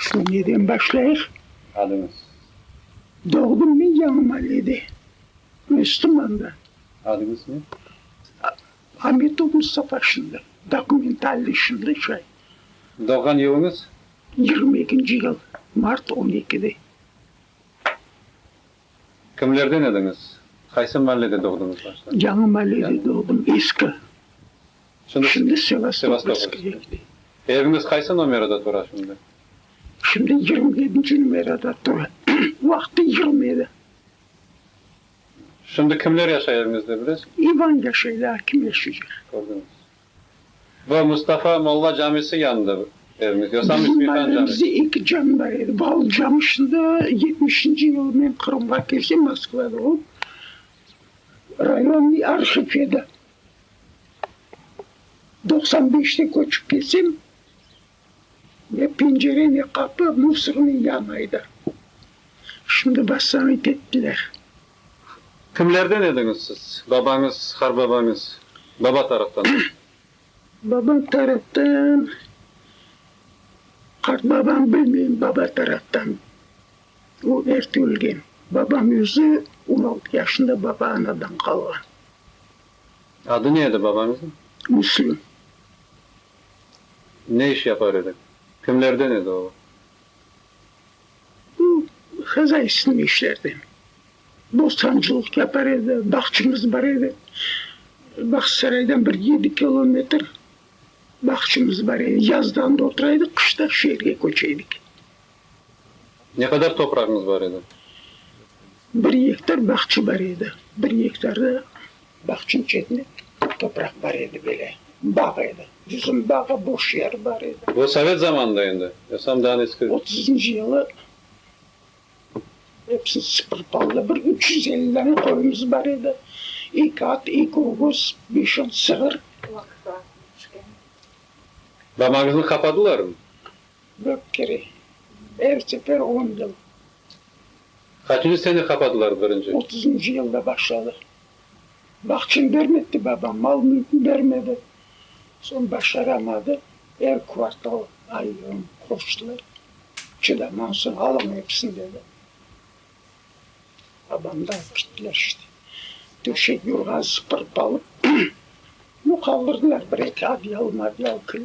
Qısqa neden başlayıq? Adıñız? Doğdım men Yañımalede, Östımanda. Adıñız ne? Ametov Mustafa şimdi, dokumentalnıy şimdi şay. Doğğan yılıñız? Yigirmi ekinci yıl, mart on ekide. Kimlerden ediñiz? Qaysı mahallede doğduñız başta? Yañı mahallede doğdım, eski. Şimdi Sevastopolskıya gidem. Eviñiz qaysı nomerada tura şimdi? Şimdi yigirmi yedinci numerada tura. Vaqtı yigirmi edi. Şimdi kimler yaşay eviñizde, bilesiñizmi? İvan yaşay, lâkin kim yaşay? Kördiñiz. Bu Mustafa molla camisi yanıdır evimiz. Yosam İsmi Han cami. Bizde eki cami bar edi. Bal cami şimdi yetmişinci yılı men Qırımğa kelsem Moskvada olıp rayonnıy arhiv edi. Doqsan beşte köçip kelsem Ne pencere, ne qapı mufsrnıñ yanı edi. Şimdi bassanıt ettiler. Kimlerden ediñiz siz? Babañız, har babañız, baba taraftan. Baba taraftan, qartbabam bilmeyim, baba taraftan o erte ölgen. Babam özü on altı yaşında baba-anadan qalğan. Adı ne edi babañıznıñ? Müslüm. Ne iş yapar edi? Kimlerden edi o? O, hazaysnıy işlerden. Bostancılıq yapar edi, bağçımız bar edi. Bağçasaraydan bir yedi kilometr bağçımız bar edi. Yazda anda otura edik, qışta şeerge köçe edik. Ne qadar toprağıñız bar edi? Bir gektar bağça bar edi. Bir gektarda Bağçı içinde topraq bar edi, böyle bağ edi. Bizim bağğa boş yer bar edi. Bu sovet zamanında endi, yosam daa neski? Otuzıncı yılı epsini sıpırıp aldılar. Bir üç yüz elli dana qoyumız bar edi. Eki at, eki ögüz, beş on sığır. Damağıñıznı qapadılarmı? Yok kere, er sefer on yıl. Qaçıncı sene qapadılar birinci? Otuzıncı yılda başladı. Bahçem bermedi babam, mal-mülküm bermedi. Soñ başaramadı, er kvartal ayırım qoştılar. Çıdamamsıñ, alıñ episini dedi. Babamdı alıp kettiler işte. Döşek, yurğan sıpırıp alıp, yoqaldırdılar, bir-eki adyal-madyal kil.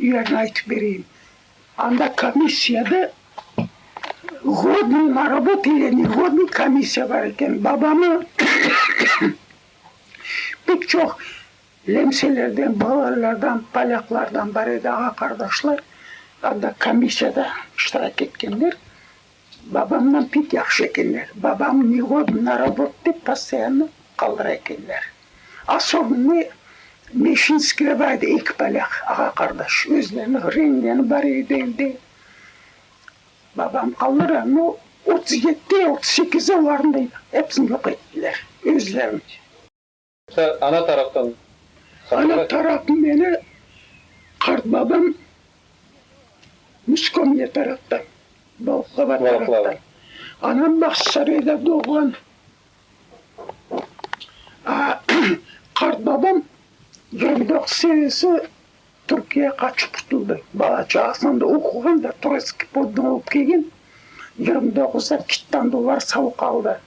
Yerni aytıp bereyim. Anda komissiyada ğodnıy na robot ile neğodnıy komissiya bar eken. Babamı pek çoq lemselerden, bolârlardan, polyaklardan bar edi, ağa-qardaşlar. Anda komissiyada iştirak etkenler. Babamnan pek yahşı ekenler. Babam negodnıy robot dep postoyanno qaldıra ekenler. Asovnıy Meşinskiy bar edi, eki polâk, ağa-qardaş. Özlerini ğrengenı bar edi evde. Babam qaldıra, no, otuz yetti, otuz sekizi olarnıy, episini yoq ettiler, özlerini. Sen ana taraftan qırımlı? Ana tarafım meni qartbabam Muskomye taraftan, Balaklava taraftan. Anam Baqçısarayda doğğan. Qartbabam Yardaq serisi Türkiye qaçıp qutuldı. Bala-çağasınan da oquğan da Troitskiy poddon olıp kelgen, yigirmi doğuz da kittan dollar savuq aldı.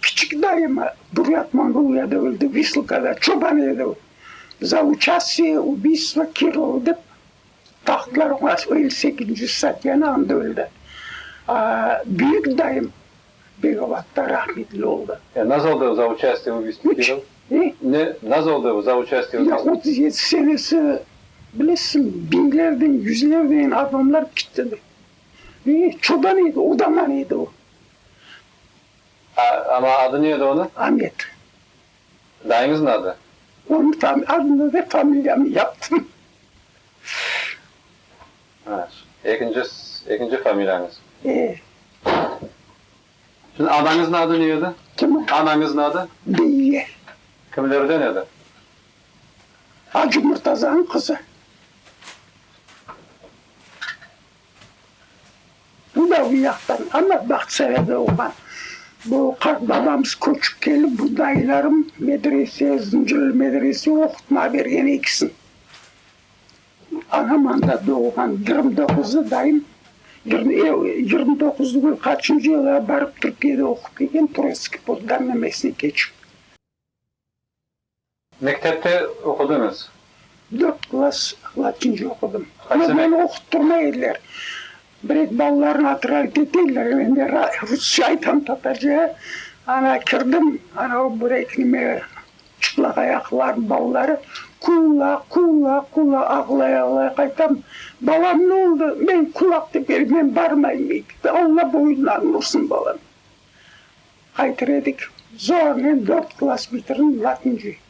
Kiçik dayım Buryat Mongoliyada öldi, Visılkada çoban edi o. Za uçastiye, ubiystvo Kirlova dep taqtılar oña elli sekizinci statyanı, anda öldi. Büyük dayım Begovatda rahmetli oldı. Ya nazoldı za uçastiye u vistü film? Ne? Ne nazoldı za uçastiye u vistü? Ya otuz yedi senesi bilesizmi, biñlerden, yüzlerden adamlar kittidi. E, çoban edi, odaman edi o. A, ama adı ne edi onı? Amet. Dayıñızın adı? Onı tam adını ve familiyamı yaptım. Ekinci, ekinci familiyañız. Şimdi anañıznıñ adı ne edi? Kimin? Anañıznıñ adı? Beyye. Kimlerden edi? Acı Murtazanıñ qızı. Bu da bu yaqtan, amma Bağçayada doğğan. Bu qartbabamız köçip kelip, bu dayılarım medrese, Zıncırlı medrese oqutmağa bergen ekisin. Ağamanda doğulğan yigirmi doquzda dayım yigirmi doquz degil, qaçıncı yıla barıp Türkiyede oqup kelgen, Troitskiy poldan namesnik keçip. Mektepte oqudıñız? Dört klass latincı oqudım. Amma meni oquttırmay ediler. Biret balalarnı atırav keteller, men de rusça aytam, tatarca. Ana kirdim, ana o bireknime çıplaq ayaqlar, balaları, Kula, kula, kula, ağlay-ağlay qaytam. Balam, ne oldı? Men kulaq tepeli, men barmayım mekebe, Alla boyundan ursın balam. Qaytır edik, zornen dört klass bitirdim, latıncı.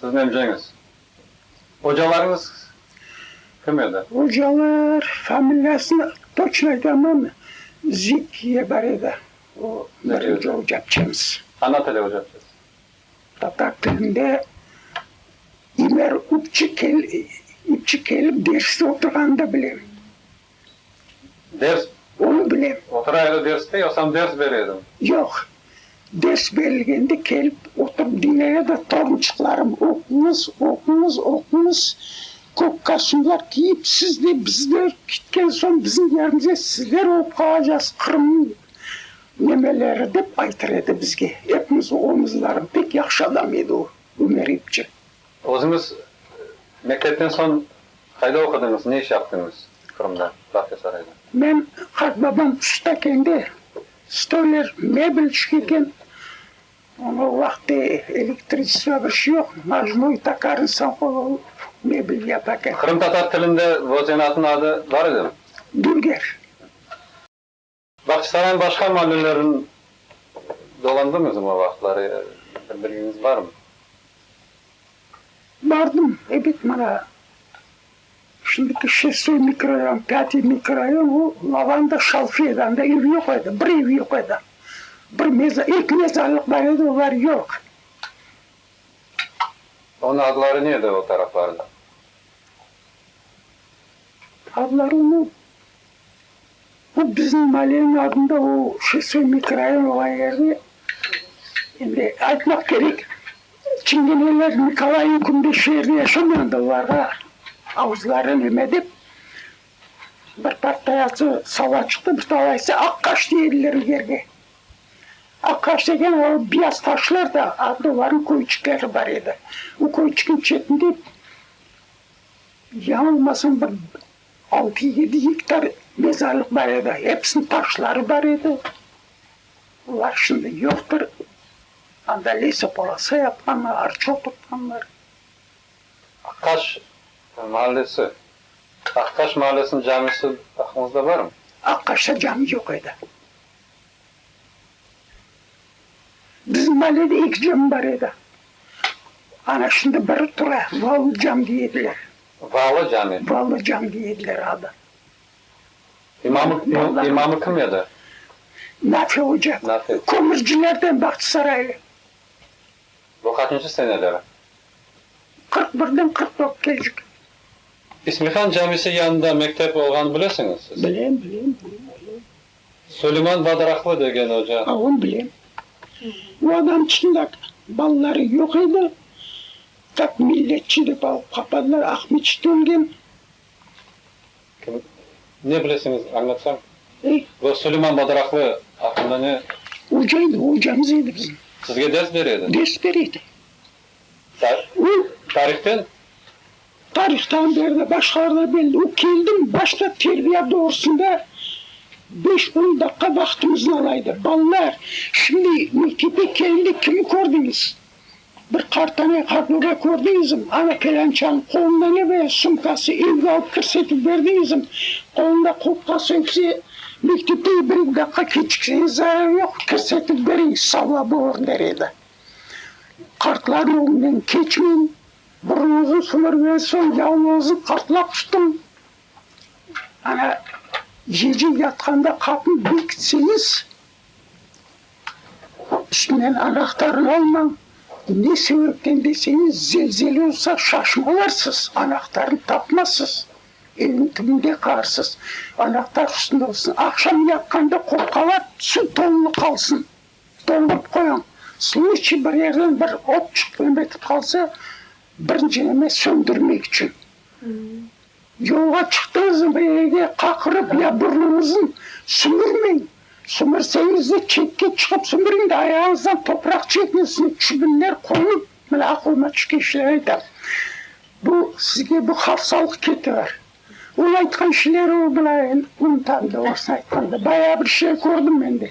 Sizniñ emceñiz, ocalarıñız kim edi? Ocalar, familiyasını toçno aytamam, Zik diye bar edi, o, birinci ocapçımız. Ana tili ocapçısı? Tatar tilinde İmer İpçi kelip derste oturğanını da bilem. Ders. Onı bilem. Otura edi derste, yoqsam ders ber edi? Yoq. Ders berilgende kelip oturıp diñley edi, torunçıqlarım, oquñız, oquñız, oquñız, kök kostümler kiyip, siz de, biz de, ketken soñ bizim yerimize sizler olıp qalacaqsız, Qırımnıñ nemeleri, dep aytır edi bizge. Epimiz oğlumızlarım, pek yahşı adam edi o, Ömer epçi. Özüñiz mektepten soñ qayda oqudıñız, ne iş yaptıñız Qırımda, Bağçasarayda? Men, qartbabam ustakende, stoler, mebel tişkergen. Onı o vaqıtte elektricniy bir şey yoq, majnoy taqar insan qolı alıp, mebel yapa eken. Qırımtatar tilinde bu zenatnıñ adı bar edimi? Dülger. Baqçısaraynıñ başqa mallülerin dolandıñızmı o vaqıtları? Bir bilgiñiz barmı? Bardım, ebet, mana şimdiki Şestoy mikrorayon, Pâtiy mikrorayon, o Lavanda Şalfi edi, anda ev yoq edi, bir ev yoq edi. Bir meza, eki mezarlıq bar edi, olar yoq. Onıñ adları ne edi o taraflarnıñ? Adları onıñ? Bu bizniñ mallenin adında o şosey, mikrorayon olğan yerde, endi aytmaq kerek, çingeneler Nikolay ilk künde şu yerde yaşamayandı, olarğa avuzları neme dep, bir partayası sala çıqtı, bir talaysı Aqaş deydiler o yerge. Aqaş degen o biyaz taşlar da adı olarnıñ köyçikleri bar edi. O köyçikniñ çetinde, yañılmasam, bir Altı, yedi gektar mezarlıq bar edi, episiniñ taşları bar edi. Olar şimdi yoqtır. Anda lesopolasa yapqanlar, arça oturtqanlar. Aqtaş mahallesi, Aqtaş mahallesiniñ camisi aqıñızda barmı? Aqtaşta cami yoq edi. Bizim mahallede eki cami bar edi. Ana şimdi biri tura, Vaul cami dey ediler. Valı cami. Valı cami diye ediler adı. İmamı, imamı kim edi? Nafi Hoca. Nafi. Kömürcilerden Bahtısaraylı. Bu qaçıncı seneleri? Qırq birden qırq dörtkeçik. İsmihan camisi yanında mektep olğanı bilesiñiz siz? Bilem, bilem, bilem, bilem. Suleyman Badaraqlı degen oca. A on bilem. O adam çında balaları yoq edi. Kak milletçi dep alıp qapadılar, Aqmeçit ölgen. Ne bilesiñiz, añlatsañ? E? Bu Suleyman Badaraqlı aqqında ne? Oca edi, ocamız edi bizim. Sizge ders bere edi? Ders bere edi. O, tarihten? Tarihtan der de, başqalardan belli. O, keldim, başta terbiya doğrusında beş-on daqqa vaqtımıznı ala edi. Balalar, şimdi mektepke kelende kimi kördiñiz? Bir qartanay, qartbabay kördiñizmi? Ana, pelânçanıñ qolunda ne böyle sumkası? Evge alıp kirsetip berdiñizmi? Qolunda kurtkası ögse, mektepke bir-eki daqqa keçikseñiz, zarar yoq, kirsetip beriñ, savabı bar, der edi. Qartlar yolunen keçmem, burun uzun sümermen, soñ yalın özüm qartlap çıqtım. Ana, gece yatqanda qapını bekitseñiz, üstünden anahtarnı almañ, ne sebepten deseñiz, zelzele olsa, şaşıp alarsız, anahtarnı tapmazsız, eviñ tübünde qarsız, anahtar üstünde olsun, aqşam yatqanda qopqalar tüsün, toñlı qalsın. Doldurıp qoyuñ. Sluçiy bir yerden bir ot çıqtı neme etip qalsa, birinci neme söndürmek içün. Yolğa çıqtığıñız zaman evde qaqırıp ya burnuñıznı sümürmeñ. Sümürseñiz de çetke çıqıp sümüriñ de ayağıñızdan topraq çekiniñ, üstüne çübinler qoyuñ. Mine aqlıma tüşken işlerni aytam. Bu sizge bu hafsalıq ketiver. Ol aytqan işleri mına endi unutam da, orasını aytqanda. Bayağı bir işler kördim men de.